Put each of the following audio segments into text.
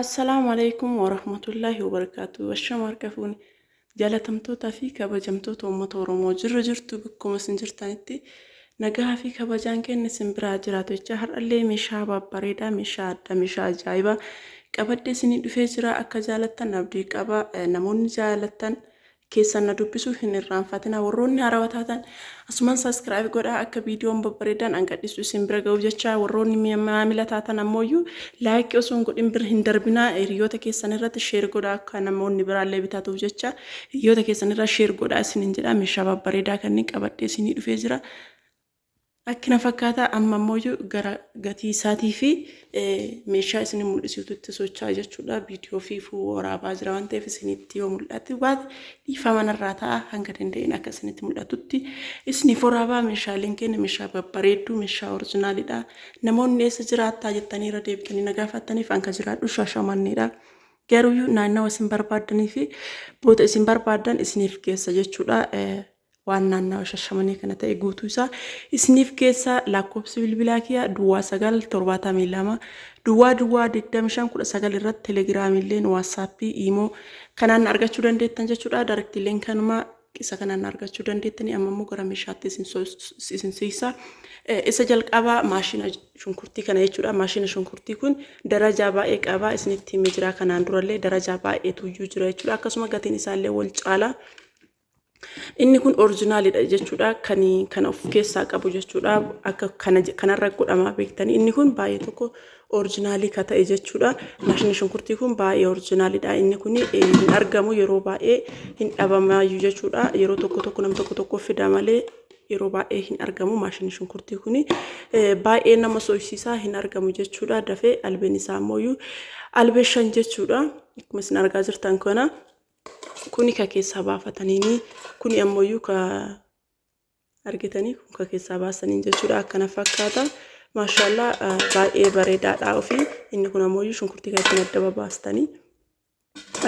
Assalaamu Aleykum Warahmatullaahi Wabarakaatuh Ashama harka fuuni jaalatamtootaa fi kabajamtoota uummata Oromoo jirra jirtu bakkuma isin jirtanitti nagaa fi kabajaan keenya isin biraa jiraatu jecha har'allee meeshaa babbareedaa meeshaa addaa meeshaa ajaa'ibaa qabadde isinii dhufee jira akka jaalattan abdii qaba namoonni jaalattan keessan na dubbisuu hin irraanfatina warroonni haarawa taatan asuman subscribe godhaa akka viidiyoon babbareedan an gadhisu isin bira ga'uuf jecha warroonni mi- maamila taatan ammooyyuu laayikii osoo hin godhin bira hin darbinaa hiriyoota keessan irratti sheer godhaa akka namoonni biraallee bitatuuf jecha hiriyoota keessan irra sheer godhaa isinin jedha meeshaa babbareedaa kanneen qabadhee isinii dhufee jira Akki na fakkaata amma ammoo gara gatii isaatii fi meeshaa isin mul'isuutu itti socho'aa jechuudha. Viidiyoo fi waraabaa jira waan ta'eef isinitti yoo mul'atu baate dhiifama narraa ta'a hanga danda'een akka isinitti mul'atutti isiniif waraabaa meeshaaleen keenya meeshaa babbareedduu meeshaa orijinaalidha. Namoonni eessa jiraattaa jettanii irra deebitanii na gaafattaniif hanga jiraadhu shaashamanneedha. Garuu naannawa isin barbaaddanii fi boota isin barbaaddan isiniif geessa jechuudha. Waan naannawa shashamanee kana ta'e guutuu isaa isiniif geessa lakkoofsi bilbilaa kiyaa duwwaa sagal torbaatamii lama duwwaa duwwaa digdami shan kudha sagal irratti telegiraamiilleen waatsaappii iimoo kanaan argachuu dandeettan jechuudha daarektiilleen kanuma isa kanaan argachuu dandeettanii amma immoo gara meeshaatti isin siisa isa jalqabaa maashina shunkurtii kana jechuudha maashina shunkurtii kun darajaa baay'ee qabaa isinitti himee jira kanaan durallee darajaa baay'eetu iyyuu jira jechuudha akkasuma gatiin isaallee wal caalaa Inni kun orijinaalidha jechuudha. Kan kana of keessaa qabu jechuudha. Akka kana kanarra godhamaa beektanii inni kun baay'ee tokko orijinaalii ka ta'e jechuudha. Maashiniin shunkurtii kun baay'ee orijinaalidha. Inni kun hin argamu yeroo baay'ee hin dhabamaayyuu jechuudha. Yeroo tokko tokko nam tokko tokko fida malee yeroo baay'ee hin argamu maashinni shunkurtii kun baay'ee nama soysiisaa hin argamu jechuudha. Dafee albeen isaa ammoo albee shan jechuudha. Akkuma isin argaa jirtan kana. Kuni ka keessaa baafataniini. Kuni ammoyyuu ka argitanii kun ka keessaa baasaniin jechuudha akkana fakkaata. Maashaallah baay'ee bareedaadha ofii. Inni kun ammoyyuu shunkurtii kan ittiin adda babaastanii.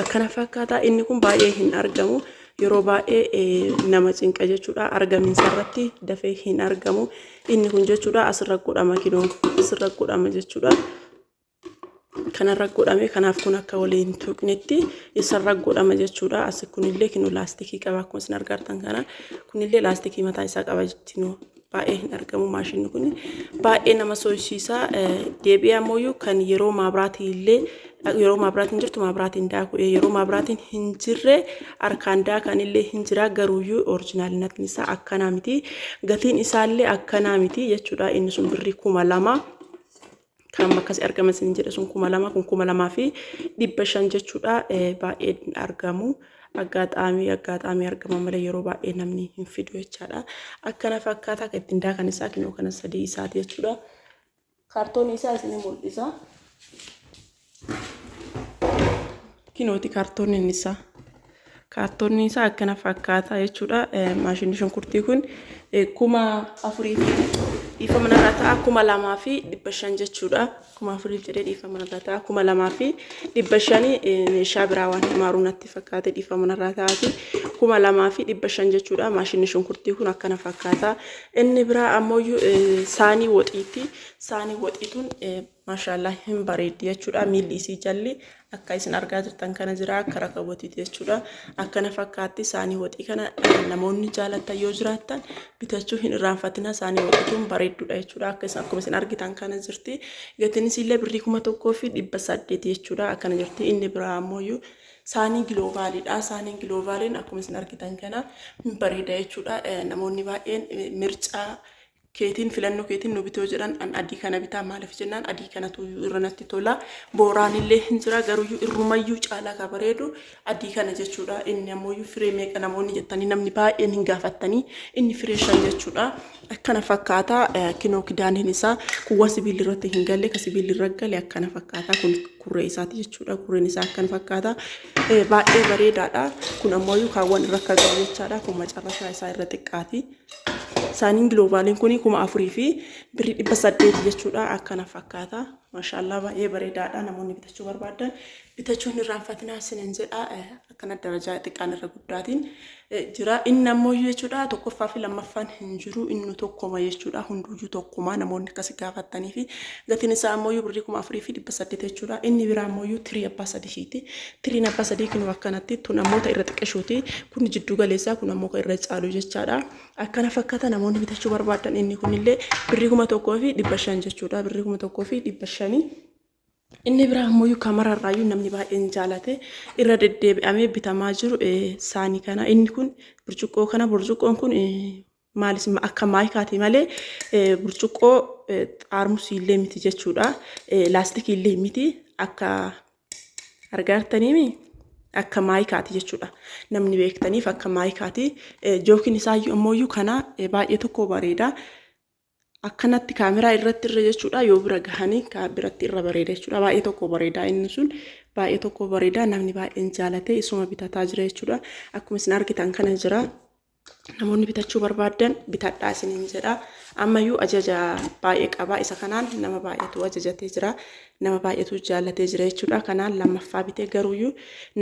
Akkana fakkaata inni kun baay'ee hin argamu. Yeroo baay'ee nama cinqa jechuudha argamiinsa irratti dafee hin argamu. Inni kun jechuudha asirra godhama kiloon asirra godhama jechuudha. kanarra godhame kanaaf kun akka walii hin tuqnetti isarra godhama jechuudha asi kunillee kinu laastikii qaba akkuma isin argartan kana kunillee laastikii mataa isaa qaba jettinu baay'ee hin argamu maashinni kun baay'ee nama soyisiisa deebi'ee ammoo kan yeroo maabraatii illee yeroo maabraatiin jirtu maabraatiin daaku yeroo maabraatiin hin jirre harkaan daakan illee hin jira garuuyyuu orijinaalinatni isaa akkanaa miti gatiin isaallee akkanaa miti jechuudha inni sun birrii kuma lama kan amma akkasii argama isin jedhe sun kuma lama kun kuma lamaa fi dhibba shan jechuudha baay'ee hin argamu aggaataamii aggaataamii argama malee yeroo baay'ee namni hin fidu jechaadha akkana fakkaataa kan ittiin daakan isaa kinoo kana sadii isaati jechuudha kaartoonii isaa isin mul'isa. kinooti kaartoonni inni isaa kaartoonni isaa akkana fakkaataa jechuudha maashinni shunkurtii kun kuma afurii fi dhiifa manarraa ta'a kuma lamaa fi dhibba shan jechuudha kuma afurii jedhee dhiifa manarraa ta'a kuma lamaa fi dhibba shanii meeshaa biraa waan himaaru natti fakkaate dhiifa manarraa ta'aati kuma lamaa fi dhibba shan jechuudha maashinni shunkurtii kun akkana fakkaataa inni biraa ammoo saanii woxiitti saanii woxiituun Mashaallah hin bareeddi jechudha miilli isii jalli akka isin argaa jirtan kana jira akka rakabotiiti jechudha akkana fakkaatti saanii waxii kana namoonni jaalattan yoo jiraattan bitachuu hin irraanfatina saanii waxiituun bareeddudha jechudha akka isin akkuma isin argitan kana jirti gatiin isiillee birrii kuma tokkoo fi dhibba saddeeti jechudha akkana jirti inni biraa ammoo saanii giloovaaliidha saaniin giloovaaliin akkuma isin argitan kana hin bareeda jechudha namoonni baay'een mircaa keetiin filannoo keetiin nu bitoo jedhan an adii kana bitaa maaliif jennaan adii kanatuyyuu irra natti tola booraanillee hin jira garuyyuu irrumayyuu caalaa ka bareedu adii kana jechuudha inni ammoyyuu firee meeqa namoonni jettanii namni baay'een hin gaafattanii inni firee shan jechuudha akkana fakkaata eh, kinoo kidaaniin isaa kuwwa sibiilli irratti hin galle ka sibiilli irra gale akkana fakkaata kun kurree isaati jechuudha kurreen isaa akkana fakkaata Eh, baay'ee bareedaadha kun ammoyyuu kaawwan irra akka galu jechaadha kun macarrashaa isaa irra xiqqaati Saaniin giloobaaliin kun kuma afurii fi birrii dhibba saddeeti jechuudha. Akkana fakkaata. Maashaallaa baay'ee bareedaadha. Namoonni bitachuu barbaadan bitachuu hin irraanfatinaa isiniin jedha. Akkana darajaa xiqqaan irra guddaatiin jira. Inni ammoo jechuudha tokkoffaa fi lammaffaan hin jiru. Inni tokkuma jechuudha. Hunduuyyuu tokkuma namoonni akkasi gaafattanii fi gatiin isaa ammoo birrii kuma afurii fi dhibba saddeeti jechuudha. Inni biraa ammoo tirii abbaa sadihiiti. Tiriin abbaa sadii kunuu akkanatti tun ammoo ta irra xiqqeshuuti kun jidduu galeessaa kun ammoo ka irra caalu jechaadha akkana fakkata namoonni bitachuu barbaadan inni kunillee birrii kuma tokkoo fi dhibba shan jechuudha birrii kuma tokkoo fi dhibba shanii inni biraa ammoo yuu kamararraayyuu namni baay'een jaalate irra deddeebi'amee bitamaa jiru saanii kana inni kun burcuqqoo kana burcuqqoon kun maalis akka maayikaati malee burcuqqoo xaarmusii illee miti jechuudha. Laastikii illee miti akka argaartaniimi akka maayikaati jechuudha. Namni beektaniif akka maayikaati. Jookiin isaa ammoo kana baay'ee tokko bareeda. Akkanatti kaameraa irratti irra jechuudha yoo bira gahanii biratti irra bareeda jechuudha. Baay'ee tokko bareeda inni sun baay'ee tokko bareeda namni baay'een jaalatee isuma bitataa jira jechuudha. Akkuma isin argitan kana jira. namoonni bitachuu barbaaddan bitadhaa isiniin jedha. Ammayyuu ajaja baay'ee qaba. Isa kanaan nama baay'eetu ajajatee jira. Nama baay'eetu jaallatee jira jechuudha. Kanaan lammaffaa bitee garuuyyuu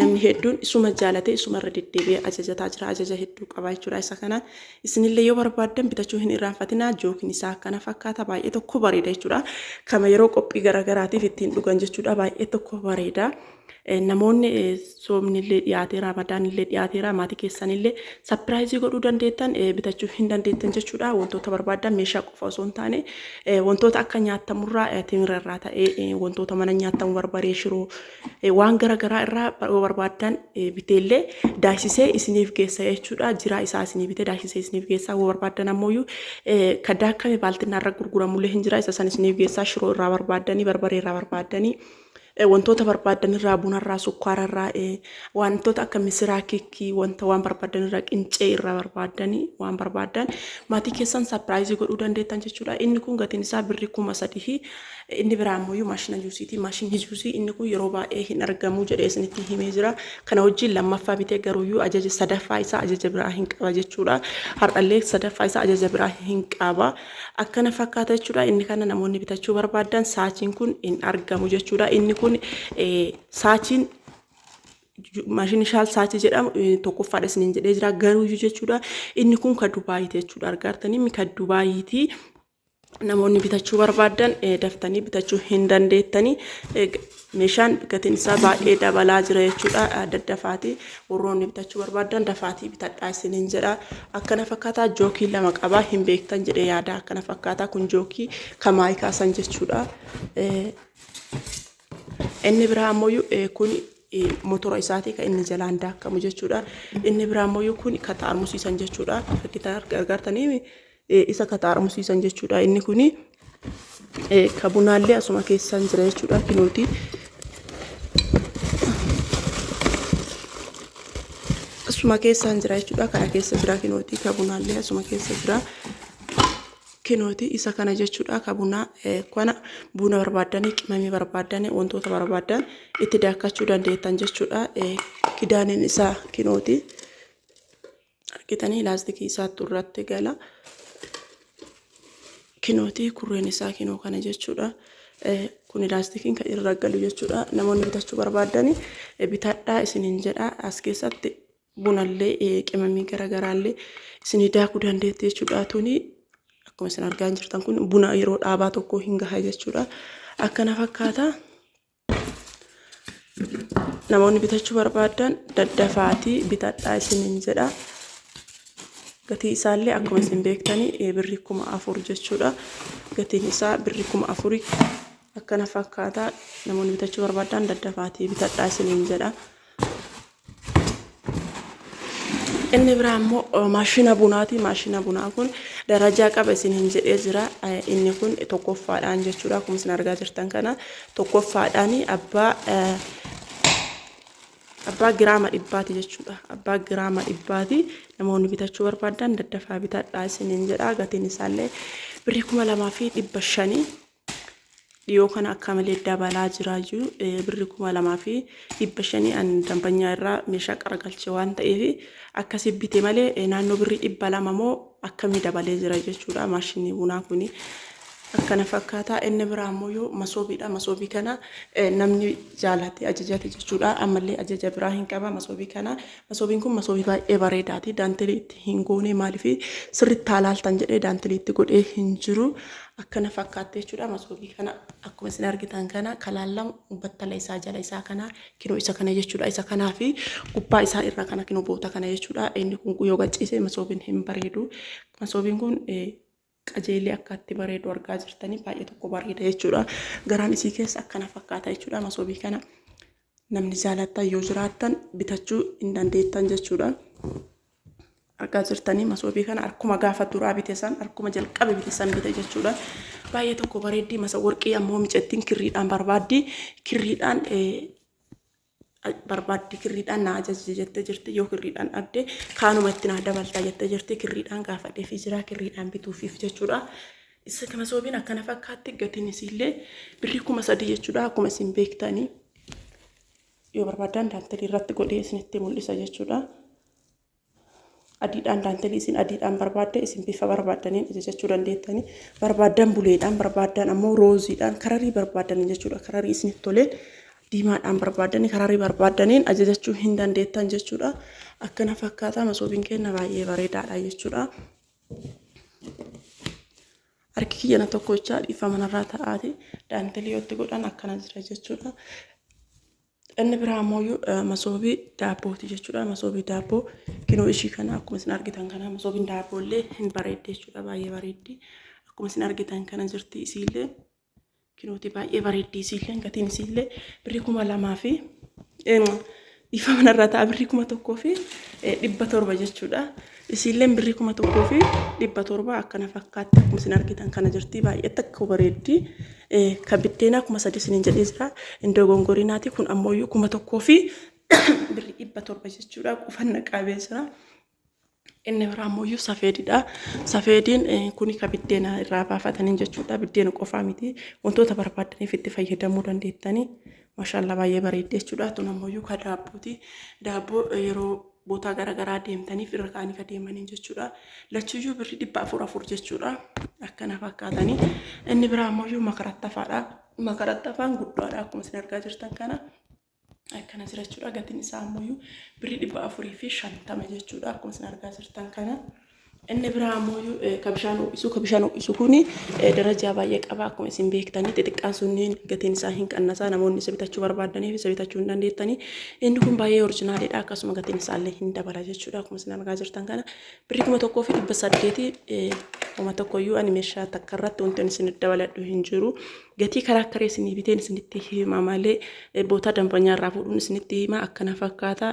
namni hedduun isuma jaallatee isuma irra deddeebi'ee ajajataa jira. Ajaja hedduu qaba jechuudha. Isa kanaan isinillee yoo barbaaddan bitachuu hin irraanfatinaa. Jookiin isaa akkana fakkaata. Baay'ee tokko bareeda jechuudha. Kama yeroo qophii garaagaraatiif ittiin dhugan jechuudha. Baay'ee tokko bareeda. Namoonni soomnillee dhiyaatee raamadaanillee dhiyaateera maatii keessanillee sapiraayizii godhuu dandeettan bitachuu hin dandeettan jechuudha. Wantoota barbaaddan meeshaa qofa osoo hin taane wantoota akka nyaatamurraa timira irraa ta'ee wantoota mana nyaatamu barbaree shiroo waan garaagaraa irraa yoo barbaaddan biteellee daasisee isiniif geessa jechuudha. Jiraa isaa isinii bitee daasisee isiniif geessa yoo barbaaddan ammoo kan daakkame baaltinaa irra gurguramullee hin jira isa san isiniif geessa shiroo irraa barbaaddanii barbaree irraa barbaaddanii Wantoota barbaaddan irraa bunarraa, sukkaararraa, wantoota akka misiraa, kikkii, wanta waan barbaaddan irraa qincee irraa barbaaddan waan barbaaddan maatii keessan sapiraayizii godhuu dandeettan jechuudha. Inni kun gatiin isaa birri kuma sadii inni biraa ammoo maashina juusiiti. Maashinni juusii inni kun yeroo baay'ee hin argamu jedhee isinitti himee jira. Kana wajjin lammaffaa bitee garuuyyuu ajaja sadaffaa isaa ajaja biraa hin qaba jechuudha. Har'allee sadaffaa isaa ajaja biraa hin qaba. Akkana fakkaata jechuudha. Inni kana namoonni bitachuu barbaadan saachiin kun hin argamu jechuudha. Inni kun saachiin maashinni shaal saachii jedhamu tokkoffaadha isiniin jedhee jira garuuyyuu jechuudha. Inni kun kan Dubaayiiti jechuudha. Argaartan inni kan Dubaayiiti. Namoonni bitachuu barbaadan daftanii bitachuu hin dandeettanii. Meeshaan gatiin isaa baay'ee dabalaa jira jechuudha. Daddafaatii warroonni bitachuu barbaaddan dafaatii bitadhaa isiniin jedha. Akkana fakkaataa jookii lama qabaa hin beektan jedhee yaada. Akkana fakkaataa kun jookii kamaayii kaasan jechuudha. Inni biraa ammoo kun motora isaatii kan inni jalaan daakamu jechuudha. Inni biraa ammoo kun ka xaarmusiisan jechuudha. Fakkitaan gargaartanii isa ka xaarmusiisan jechuudha inni kuni ka bunaallee asuma keessaan jira jechuudha kinuuti asuma keessaan jira jechuudha kana keessa jira kinuuti ka bunaallee asuma keessa jira kinooti isa kana jechuudha ka bunaa kana buna barbaaddanii qimamii barbaaddanii wantoota barbaaddan itti daakkachuu dandeettan jechuudha kidaaniin isaa kinooti. argitanii laastikii isaattu irratti gala kinooti kurreen isaa kinoo kana jechuudha kun laastikiin kan irra galu jechuudha namoonni bitachuu barbaadani bitadhaa isiniin jedha as keessatti bunallee qimamii garaagaraallee isinii daakuu dandeetti jechuudha tuni akkuma isin argaa jirtan kun buna yeroo dhaabaa tokko hin gaha jechuudha akkana fakkaata namoonni bitachuu barbaadan daddafaatii bitadhaa isiniin jedha gatii isaallee akkuma isin beektanii birri kuma afur jechuudha gatiin isaa birri kuma afuri akkana fakkaata namoonni bitachuu barbaadan daddafaatii bitadhaa isiniin jedha Inni biraa immoo maashina bunaati. Maashina bunaa kun darajaa qaba isin hin jedhee jira. Inni kun tokkoffaadhaan jechuudha. Akkuma isin argaa jirtan kana tokkoffaadhaan abbaa abbaa giraama dhibbaati jechuudha. Abbaa giraama dhibbaati namoonni bitachuu barbaadan daddafaa bitadhaa isin hin jedha. Gatiin isaallee birrii kuma lamaa fi dhibba shanii Dhiyoo kana akka malee dabalaa jiraayyu birri kuma lamaa fi dhibba shanii an dambanyaa irraa meeshaa qaragalche waan ta'eef akkasi bite malee naannoo birri dhibba lama moo akkamii dabalee jira jechuudha maashinii bunaa kuni akkana fakkaataa inni biraa ammoo yoo masoobiidha masoobii kana namni jaalate ajajate jechuudha ammallee ajaja biraa hin qaba masoobii kana Masoobiin kun masoobii baay'ee bareedaati. Daantelii itti hin goonee maaliif sirriitti haalaaltan jedhee daantelii itti godhee hin jiru. Akkana fakkaattee jechuudha masoobii kana akkuma isin argitan kana kalaallamu battala isaa jala isaa kana kinoo isa kana jechuudha. Isa kanaa fi gubbaa isaa irra kana kinoo boota kana jechuudha. Inni kun yoo gachiise masoobiin hin bareedu. Masoobiin kun qajeelee akka itti bareedu argaa jirtanii baay'ee tokko bareeda jechuudha. Garaan isii keessa akkana fakkaata jechuudha. Masoobii kana namni jaalattan yoo jiraattan bitachuu hin dandeettan jechuudha. Argaa jirtanii masoobii kana akkuma gaafa duraa bite san akkuma jalqabe bite san bite jechuudha. Baay'ee tokko bareeddii masa warqii ammoo micettiin kirriidhaan barbaaddi. Kirriidhaan barbaaddi kirriidhaan na ajaji jette jirti yoo kirriidhaan dhabde kaanuma itti naa dabalta jette jirti kirriidhaan gaafadhee fi jiraa kirriidhaan bituufiif jechuudha. Isa kana soobiin akkana fakkaatti gatiin isiillee birrii kuma sadii jechuudha akkuma isin beektanii yoo barbaadan daantelii irratti godhee isinitti mul'isa jechuudha. adiidhaan daantelii isin adiidhaan barbaaddan isin bifa barbaaddaniin ajajachuu dandeettanii barbaaddan buleedhaan barbaaddan ammoo rooziidhaan kararii barbaaddan jechuudha kararii isin toleen diimaadhaan barbaaddan kararii barbaaddaniin ajajachuu hin dandeettan jechuudha akkana fakkaataa masoobiin keenya baay'ee bareedaadha jechuudha. Harki kiyyana tokko jechaa dhiifama narraa ta'aati daantelii yoo itti godhan akkana jira jechuudha. Inni biraa ammoo masoobii daabbooti jechuudha. Masoobii daabboo kinoo ishii kana akkuma isin argitan kana masoobiin daabboo illee hin bareeddi jechuudha. Baay'ee bareeddi. Akkuma isin argitan kana jirti isiillee kinooti baay'ee bareeddi isiillee gatiin isiillee birrii kuma lamaa fi dhiifama irra ta'a birrii kuma tokkoo fi dhibba torba jechuudha. Isiilleen birrii kuma tokkoo fi dhibba torba akkana fakkaatti akkuma isin argitan kana jirti baay'ee takka bareeddi ka biddeenaa kuma sadii isiniin jedhee jira indoo gongorinaati kun ammoo iyyuu kuma tokkoo fi birrii dhibba torba jechuudha qufanna qaabee jira. Inni biraa ammoo iyyuu safeedidha. Safeediin kuni ka biddeena irraa baafataniin jechuudha biddeena qofaa miti wantoota barbaadaniif itti fayyadamuu dandeettanii. Mashallah baay'ee bareeddi jechuudha tun ammoo yuukaa daabbooti daabboo yeroo bootaa garagaraa deemtaniif irra kaanii ka deemaniin jechuudha lachuyyuu birri dhibba afur afur jechuudha akkana fakkaatanii inni biraa ammoo yuu makarattafaadha makarattafaan guddaadha akkuma isin argaa jirtan kana akkana jira jechuudha gatiin isaa ammoo birri dhibba afurii fi shantama jechuudha akkuma isin argaa jirtan kana. Inni biraa ammoo ka bishaan ho'isu ka bishaan ho'isu kun darajaa baay'ee qaba akkuma isin beektanii xixiqqaan sunniin gatiin isaa hin qannasaa namoonni isa bitachuu barbaadaniif isa bitachuu hin dandeettanii inni kun baay'ee orjinaaliidha akkasuma gatiin isaa illee hin dabala jechuudha akkuma isin argaa jirtan kana birrii kuma tokkoo fi dhibba saddeeti kuma tokkoyyuu ani meeshaa takka irratti wanti ani isin dabaladhu hin jiru Gatii karaaktara isinii biteen isinitti hima malee bootaa danfanyaa irraa fuudhuun isinitti hima akkana fakkaata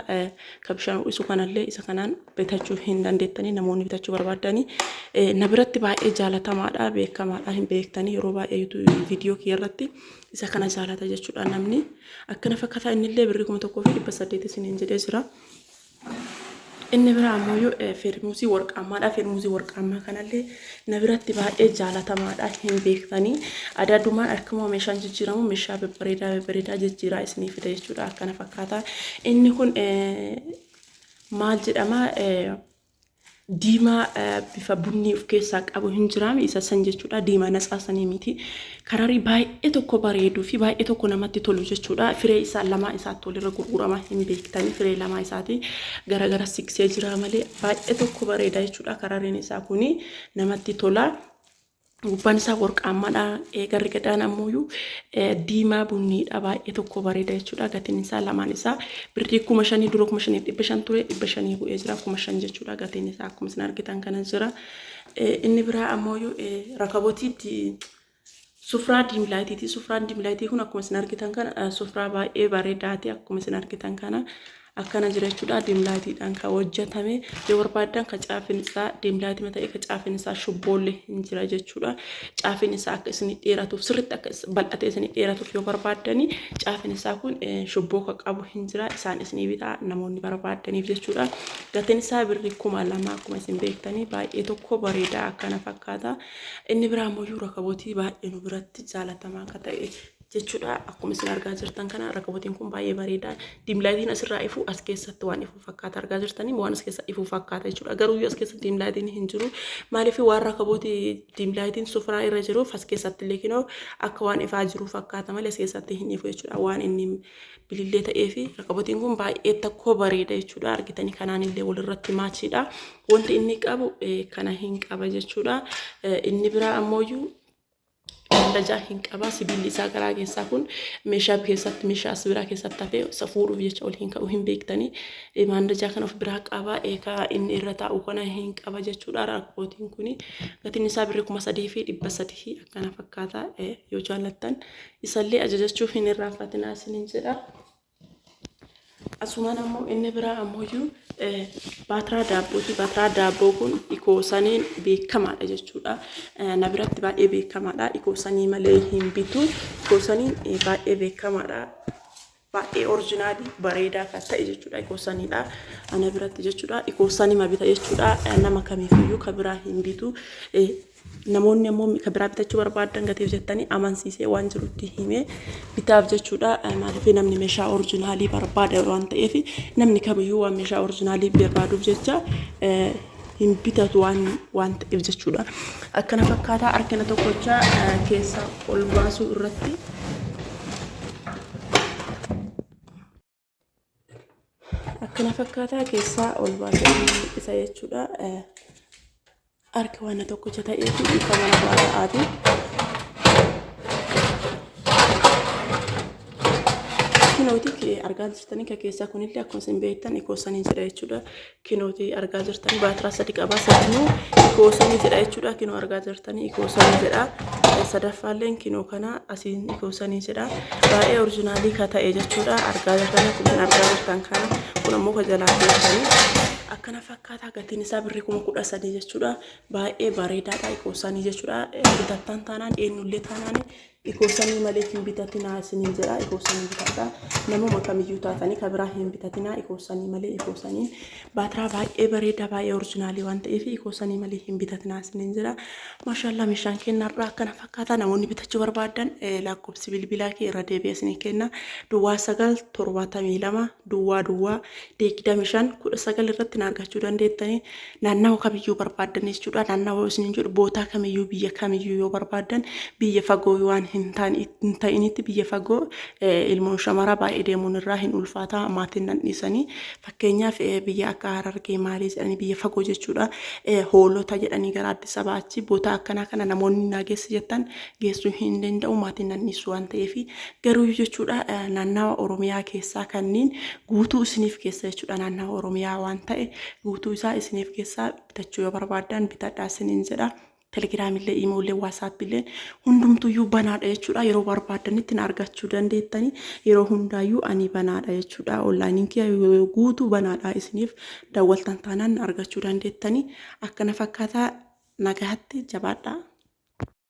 ka bishaan ho'isu kanallee isa kanaan bitachuu hin dandeettanii namoonni bitachuu barbaaddanii na biratti baay'ee jaalatamaadha beekamaadha hin beektanii yeroo baay'ee yuutuubii viidiyoo kiyya irratti isa kana jaalata jechuudha namni akkana fakkaata innillee birrii kuma tokkoo fi dhibba saddeet isiniin jedhee jira. Inni biraa ammoo firmuusii warqaammaadha. Firmuusii warqaammaa kanallee na biratti baay'ee jaalatamaadha. Hin beektanii adaadumaan akkuma meeshaan jijjiiramu meeshaa babbareedaa babbareedaa jijjiiraa isinii fida jechuudha. Akkana fakkaata. Inni kun maal jedhama? diimaa bifa bunnii of keessaa qabu hin jiraami isa san jechuudha diimaa natsaa sanii miti kararii baay'ee tokko bareeduu fi baay'ee tokko namatti tolu jechuudha firee isaa lamaa isaatti walirra gurgurama hin beektanii firee lamaa isaati garagara siksee jiraa malee baay'ee tokko bareeda jechuudha karariin isaa kuni namatti tola. Gubbaan isaa worqaammaadha. Garri gadaan ammoo diimaa bunniidha. Baay'ee tokko bareeda jechuudha. Gatiin isaa lamaan isaa birrii kuma shanii dura kuma shaniif dhibba shan ture dhibba shanii bu'ee jira kuma shan jechuudha. Gatiin isaa akkuma isin argitan kana jira. Inni biraa ammoo rakabotiitti sufraa diimlaayitiiti. Sufraan diimlaayitii kun akkuma isin argitan kana sufraa baay'ee bareedaati. Akkuma isin argitan kana Akkana jira jechuudha dim laayitiidhaan kan hojjetame yoo barbaaddan kan caafiin isaa dim laayitima ta'ee kan caafiin isaa shubboollee hin jira jechuudha caafiin isaa akka isin dheeratuuf sirriitti akka bal'atee isin dheeratuuf yoo barbaaddani caafiin isaa kun shubboo kan qabu hin jira isaan isin bitaa namoonni barbaaddaniif jechuudha gatiin isaa birrii kuma lama akkuma isin beektanii baay'ee tokko bareedaa akkana fakkaata inni biraa immoo rakabotii baay'ee nu biratti jaalatamaa akka ta'e jechuudha. Akkuma isin argaa jirtan kana rakabotiin kun baay'ee bareeda. Diimlaayitiin asirraa ifu as keessatti waan ifu fakkaata argaa jirtanii waan as keessa ifu fakkaata jechuudha. Garuu as keessa diimlaayitiin hin jiru. Maaliif waan rakabooti diimlaayitiin sufuraa irra jiruuf as keessatti illee kinoo akka waan ifaa jiru fakkaata malee as keessatti hin ifu jechuudha. Waan inni bilillee ta'ee fi rakabotiin kun baay'ee tokko bareeda jechuudha. Argitanii kanaan illee walirratti maachiidha. Wanti inni qabu kana hin qaba jechuudha. Inni biraa ammoo Dallajaa hin qabaa sibiilli isaa garaa keessaa kun meeshaa keessatti meeshaa as biraa keessatti hafee isa fuudhuuf jecha ol hin ka'u hin beektanii Eh, maandajaa kan of biraa qabaa eekaa inni irra taa'u kana hin qaba jechuudha rakkootiin kuni gatiin isaa birri kuma sadii fi dhibba sadii fi akkana fakkaata Eh, yoo jaallattan isallee ajajachuu hin irraanfatinaa isiniin jedha. Asumaan ammoo inni biraa ammoyyuu baatiraa daabbooti. Baatiraa daabboo kun ikoosaniin beekamaadha jechuudha. Na biratti baay'ee beekamaadha. Ikoosanii malee hin bitu. Ikoosaniin baay'ee beekamaadha. Baay'ee orjinaalii bareedaa kan ta'e jechuudha. Ikoosaniidha. Ana biratti jechuudha. Ikoosanima bita jechuudha. Nama kamiifiyyuu kan biraa hin bitu. Namoonni ammoo ka biraa bitachuu barbaaddan gatiif jettanii amansiisee waan jirutti himee bitaaf jechuudha. Maaliif namni meeshaa orijinaalii barbaada waan ta'eef namni kamiyyuu waan meeshaa orijinaalii barbaaduuf jecha hin bitatu waan waan ta'eef jechuudha. Akkana fakkaataa harkina tokkochaa keessa ol baasuu irratti. akkana fakkaataa keessaa ol baasee isa jechuudha. Harki waan tokkicha ta'ee fi ifa mana baay'aati. Kinooti argaan jirtanii keessaa kunillee akkuma isin beektan ikoo saniin jedha jechuudha. kinooti argaa jirtanii baatiraa sadi qabaa sadinuu ikoosamii jedha jechuudha kinoo argaa jirtanii ikoosamii jedha sadaffaalleen kinoo kana asiin ikoosanii jedha baay'ee orijinaalii ka ta'e jechuudha argaa jirtanii kunneen argaa jirtan kana kun ammoo ka jalaa keessanii akkana fakkaataa gatiin isaa birrii kuma kudha sadii jechuudha baay'ee bareedaadha ikoosanii jechuudha bitattaan taanaan eenyullee taanaan Ikoosamii maleef hin bitatinaa isiniin jedhaa ikoosanii bitadhaa namuma kamiyyuu taatanii ka biraa hin bitatinaa ikoosanii malee ikoosanii baatiraa baay'ee bareedaa baay'ee orijinaalii waan ta'eef ikoosanii malee hin bitatinaa isiniin jedhaa maashaallaa meeshaan keenya har'aa akkana fakkaataa namoonni bitachuu barbaadan lakkoofsi bilbilaa kee irra deebi'ee isinii kenna duwwaa sagal torbaatamii lama duwwaa duwwaa digdami shan kudha sagal irratti na argachuu dandeettanii naannawa kamiyyuu barbaaddanis jechuudha naannawa isiniin jedhu bootaa kamiyyuu biyya kamiyyuu yoo barbaaddan biyya fagoo waan hin ta'initti biyya fagoo ilmoon shamaraa baay'ee deemuun irraa hin ulfaataa maatiin nan dhiisanii fakkeenyaaf biyya akka harargee maalii jedhanii biyya fagoo jechuudha hoolota jedhanii gara addis abaa achi bootaa akkanaa kana namoonni naa geessi jettan geessuu hin danda'u maatiin nan dhiisu waan ta'eef Garuuyyu jechuudha naannawa Oromiyaa keessaa kanniin guutuu isiniif keessa jechuudha naannawa Oromiyaa waan ta'e guutuu isaa isiniif keessaa bitachuu yoo barbaaddan bitadhaa isiniin jedha. Telegiraamillee, iimoollee, waasaappiillee hundumtuyyuu banaadha jechuudha. Yeroo barbaaddanitti na argachuu dandeettani. Yeroo hundaayyuu ani banaadha jechuudha. Onlaayiniin kiyya yoo guutuu banaadha isiniif dawwaltan taanaan na argachuu dandeettani. Akkana fakkaata nagahatti jabaadhaa.